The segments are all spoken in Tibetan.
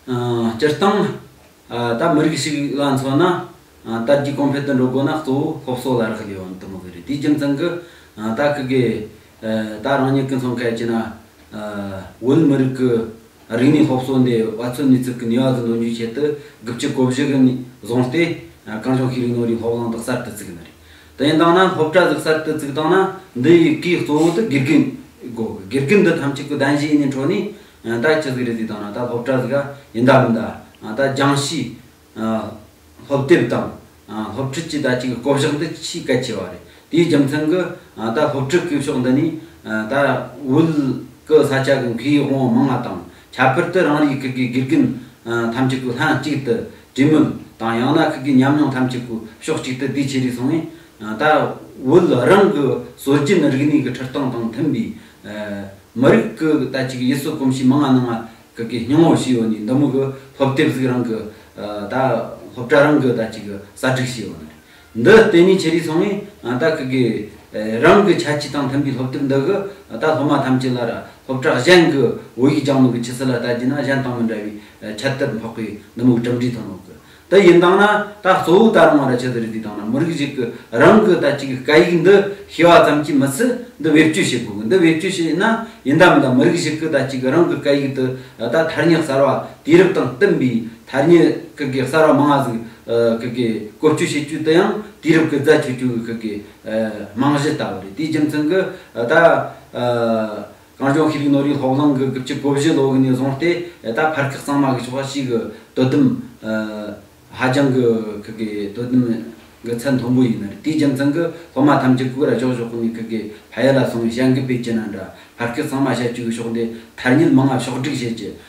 སྤྱིར་བཏང། ད་མི་རིགས་ཤིག་ལ་མཚོན་ན། དར་རྒྱས་གོང་འཕེལ་དུ་འགྲོ་དགོས་ན་གཙོ་བོ་སློབ་གསོ་ལ་རག་ལས་པ་འདི་མོ་གི་རེད་དེའི་རྒྱུ་མཚན་གྱི། ད་གི་གི། ད་རང་ཉིད་ཀྱི་མཚོན་གལ་ཆེ་ན། བོད་མི་རིགས་ཀྱི་རིག་གནས་སློབ་གསོ་འདི་བ་ཚོའི་ནུས་ཚོད་ཀྱི་ནུས་བ་གྱི་འདོན་རྒྱུའི་ཆེད་དུ་དགུ་བཅུ་གོ་བཞི་གི་ནས་བཟུང་སྟེ། གང་བྱུང་ཤེས་རིག་ནོར་རིག་སློབ་གླིང་དག་གསར་དུ་བཙུགས་ཡོད་ན་རེད། དེ་ཡིན་དང་ན་སློབ་གྲྭ་འཛུགས་གསར་དུ་བཙུགས་དང་ན་འདི་ཡི་གིས་གཙོ་བོ་དུ་དགེ་རྒན་དགོས་གི་དགེ་རྒན་འདི་ཐམས་ཅད་ཀུ་གདན་བཞི་ཡི་ནས་འཕྲོ་ནས་ད་ཅི་ཟིག་རེད་ཟིག་དང་ན་ད་སློབ་གྲྭ་ཟིག་ག་ཡིན་ད་མིན་ད་ད་སྦྱང་གཞི་སློབ་དེབ་དང་སློབ་ཁྲིད་ཀྱི་ད་ཅིག་བསྐོ་བཞག་འདི་ཆེས་གལ་ཆེ་བ་རེད་དེའི་རྒྱུ་མཚན་གི་ད་སློབ་ཁྲིད་སྐུལ་ཕྱོགས་འདི་ནས་ད་བོད་ཀི་ས་ཆ་གི་མཁའི་དབང་མང་ང་དང་ཁྱད་པར་དུ་རང་རེའི་ཁུལ་གྱི་དགེ་རྒན་ཐམས་ཅད་ཀྱིས་ལྷན་གཅིག་ཏུ་གྲོས་མོལ་དང་ཡང་ན་ཁུལ་གྱི་ཉམས་མྱོང་ཐམས་ཅད་ཀྱིས་ཕྱོགས་གཅིག་ཏུ་དེའི་ཆེད་རེ་ཟུང་ངེས་ད་བོད་རང་གི་སྲོལ་རྒྱུན་རིག་གནས་ཀྱི་ཁྲིད་སྟངས་དང་མཐུན་པའི་མི་རིགས་ཀྱི་ལྟ་གཅིག་ཡིད་སྲོལ་གོམས་གཤིས་མི་སྔ་ན་སྔ་གི་གི་སྙིང་བོ་ཞིག་ཡོད་ནས་འདི་མུག་གི་སློབ་དེབ་ཟིག་རང་གི་ད་སློབ་གྲྭ་རང་གི་ལྟ་གཅིག་གསར་སྒྲིག་བྱས་ཡོད་ནི་རེད། འདི་ལྟེ་གནས་ཆེ་རིགས་སོང་ངས་ད་གི་གི། རང་གི་ཆ་ཆི་དང་མཐུན་པའི་སློབ་དེབ་འདི་གི་ད་སློབ་མ་ཐམས་ཅད་ལ་ར་སློབ་གྲགས་གཞན་གི་བོད་ཡིག་སྦྱང་ནོ་གི་ཆི་སི་ལ་ལྟ་རྒྱུ་ན་གཞན་དང་མི་འདྲ་བའི་ཁྱད་དུ་འཕགས་པའི་ནུ་མུག་གྲུབ་འབྲས་ཐོན་ནོ་གི། དེ་ཡིན་དང་ན་ད་གཙོ་བོ་ད་རང་བ་ར་ཆི་སི་རི་དུས་དང་ན་མི་རིགས་ཞིག་གི་རང་གི་ད་གི་གི་སྐད་ཡིག་འདི་ཤེས་བ་ཙམ་གྱིས་མི་སི་འདི་བེད་སྤྱོད་བྱེད་དགོས་གི་འདི་བེད་སྤྱོད་བྱེད་ཡིན་ན་ཡིན་དམ་ད་མི་རིགས་ཞིག་གི་ད་གི་གི་རང་གི་སྐད་ཡིག་འདི་ད་ཐར་ཉག་གསར་བ་དུས་རབས་དང་བསྟུན་པའི་ཐར་ཉེ་ཁག་གི་གསར་བ་མང་བ་ཟིག་ཁག་གིས་བཀོལ་སྤྱོད་བྱེད་སྤྱོད་དུ་ཡང་དུས་རབས་ཀྱི་རྫ་ཆུ་ཆུ་བོའི་ཁག་གི་རྨང་གཞི་ལྟ་བུ་རེད་དེའི་རྒྱུ་མཚན་གྱི་ད། གངས་ལྗོངས་ཤེས་རིག་ནོར་རིག་སློབ་གླིང་གི་དགུ་བཅུ་གོ་བཞི་ལོ་དགུ་ནས་བཟུང་སྟེ་ད་བར་ཁག་གཙང་མ་གི་ཆོ་ག་གཅིག་གི་དོ་དམ་ཧ་ཅང་གི་ཁག་གི་དོ་དམ་གི་ཚད་མཐོན་པོ་ཡིན་རེད་དེའི་རྒྱུ་མཚན་གྱི་སློབ་མ་ཐམས་ཅད་ཀུ་ར་ཕྱོགས་ཕྱོགས་ནས་ཁག་གི་ཕ་ཡུལ་ལ་སོང་བའི་བྱ་འགུལ་སྤེལ་གྱི་ན་འདྲ་བར་ཁག་གཙང་མ་བྱ་སྤྱོད་ཀྱི་ཕྱོགས་འདི་ཐར་ཉེ་མང་བ་ཕྱོགས་བསྒྲིགས་བྱེད་ཀྱི་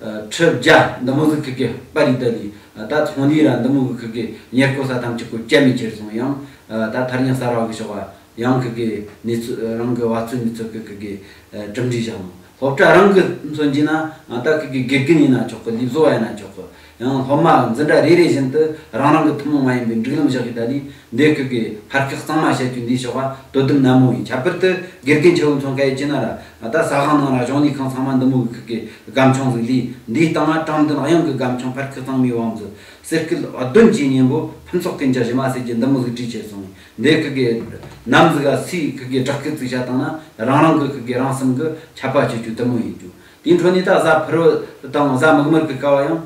ཁྲི་བརྒྱ་འདི་མོ་གཟུགས་ཐིག་གི་པར་རིས་དག་ལས་ད་ཐོང་འདིའི་ར་འདི་མོ་གི་ཁུག་གི་ཉེར་བསྐོར་ས་ཐམས་ཅད་ཀུ་ཅལ་མེ་གྱེར་སོང་ཡང་ད་ཐར་ཉག་གསར་བ་གི་ཞོགས་པ་ཡང་ཁུག་གི་ནེ་ཚོད་རང་གི་བ་ཚོད་ནེ་ཚོད་ཀི་ཁུག་གི་གྲུབ་འབྲས་བཞག་མོ་སློབ་གྲྭ་རང་གི་མཚོན་གྱིས་ན་ད་ཁུག་གི་དགེ་རྒན་ཡིན་ན་ཆོག་གི་ལུས་བཟོ་བ་ཡིན་ན་ཆོག་གི་ཡང་སློབ་མ་འཛིན་གྲྭ་རེ་རེ་བཞིན་དུ་རང་རང་གི་ཐུན་མོང་མ་ཡིན་པའི་འགྲིག་ལམ་བཞག་ཡོད་ད་ལིས་འདེད་ཁུལ་གྱི་ཕར་ཁེག་གཙང་མ་བྱ་རྒྱུ་འདི་ཆོ་ག་དོ་དམ་ནན་མོ་ཡིན་ཁྱད་པར་དུ་དགེ་རྒན་ཆེ་བོ་མཚོན་ཁ་ཡི་སྐྱིད་ན་ར་ད་ས་ཁང་ནང་ར་གཞུང་ལས་ཁང་ཚང་མ་འདི་མོ་བའི་ཁུལ་གྱི་སྒམ་ཆུང་ཟིག་ལིས་འདིའི་སྟེང་ཨ་ཀྲང་མདུན་གཡང་གི་སྒམ་ཆུང་ཕར་ཁེག་གཙང་མའི་བང་མཛོད་གསེར་སྐུད་ཨོ་བདུན་གྱི་སྙན་པོ་ཕུན་ཚོགས་ཀུན་གྱི་གཞི་མ་བསྲེས་ཀྱི་འདི་མོ་ཟིག་བྲིས་ཆེ་སོང་འདེད་ཁུལ་གྱི་ནམ་ཟིག་ཨ་སིའི་ཁུལ་གྱི་བསྒྲགས་སྐད་ཚིག་ཆ་དང་ན་རང་རང་གི་ཁུལ་གྱི་རང་སེམས་གི་ཁྱབ་པ་སྤྱོད་རྒྱུ་དུ་མོ་ཡིན་རྒྱུ་དེའི་འཕྲོ་ནས་ད་གཟའ་ཕུར་བུ་དང་གཟའ་མིག་དམར་གྱི་ཀ་བ་ཡང།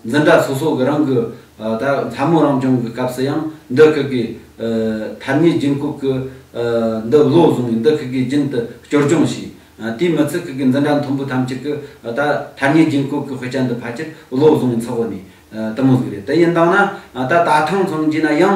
འཛིན་གྲྭ་སོ་སོ་གི་རང་གི་ད་ལྷ་མོ་རང་སྦྱོང་གི་སྐབས་སུ་ཡང་འདི་ཁུལ་གྱི་ཐར་མྱེའི་རྒྱུན་སྐུབས་ཀྱི་འདི་བློ་བཟུང་ནས་འདི་ཁུལ་གྱི་རྒྱུན་དུ་སྐྱོར་སྦྱོང་བྱས། དེའི་མི་ཚེ་ཁུལ་གྱི་འཛིན་གྲྭ་མཐོན་པོ་ཐམས་ཅད་ཀྱི་ད་ཐར་མྱེའི་རྒྱུན་སྐུབས་ཀྱི་དཔེ་ཆ་འདི་ཕལ་ཆེར་བློ་བཟུང་ནས་འཚོགས་ནས་དུ་མོ་ཟིག་རེད་དེ་ཡིན་དང་ན་ད་ད་ཐེངས་མཚོན་གྱིས་ན་ཡང།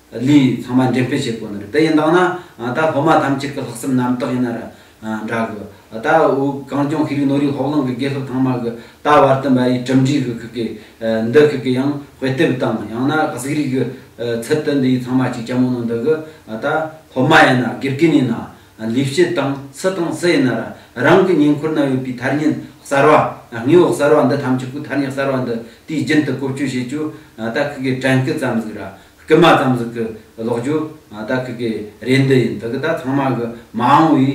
ལུས་ཚང་མ་འགྲེམས་སྤེལ་བྱེད་དགོས་ནི་རེད་དེ་ཡིན་དང་ན་ད་སློབ་མ་ཐམས་ཅད་ཀྱི་ལྷག་བསམ་རྣམ་དག་ཡིན་ན་ར་འདྲ་གི་ད་དབུས་གངས་ལྗོངས་ཤེས་རིག་ནོར་རིག་ཧོབ་ལང་གི་དགེ་སློབ་ཚང་མ་གི་ད་བར་དུ་འབའ་ཡིས་གྲུབ་འབྲས་གི་ཁུག་གི་འདི་ཁུག་གི་ཡང་དཔེ་དེབ་དང་ཡང་ན་གཟིགས་རིས་གི་ཚུལ་དུ་འདི་ཡིས་ཚང་མ་གཅིག་རྐྱང་མོ་ནང་འདི་གི་ད་སློབ་མ་ཡིན་ན་དགེ་རྒན་ཡིན་ན་ལས་བྱེད་དང་སུ་དང་སུ་ཡིན་ན་ར་རང་གི་ཉེ་འཁོར་ན་ཡོད་པའི་ཐར་སྙད་གསར་བ་དངོས་བོ་གསར་བ་འདི་ཐམས་ཅད་ཀུ་ཐར་སྙད་གསར་བ་འདི་དུས་རྒྱུན་དུ་བཀོལ་སྤྱོད་བྱེད་རྒྱུ་ད་ཁུག་གི་དྲན་སྐུལ་ཙམ་ཟིག་ར་རྐུན་མ་ཙམ་ཟིག་གི་ལོག་རྒྱུ་ད་ཁི་གི་རེད་འདི་ཡིན་ད་ཁི་ད་ཚང་མ་གི་མ་འོང་བའི་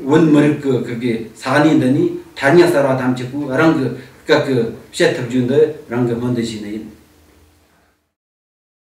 བོད་མི་རིགས་ཀི་ཁི་གི་ས་གནས་འདི་ནས་ཐ་སྙད་གསར་བ་ཐམས་ཅད་པོའི་རང་གི་སྐད་ཀི་བཤད་ཐུབ་རྒྱུ་འདི་རང་གི་སྨོན་འདུན་ཞིག་ནི་ཡིན།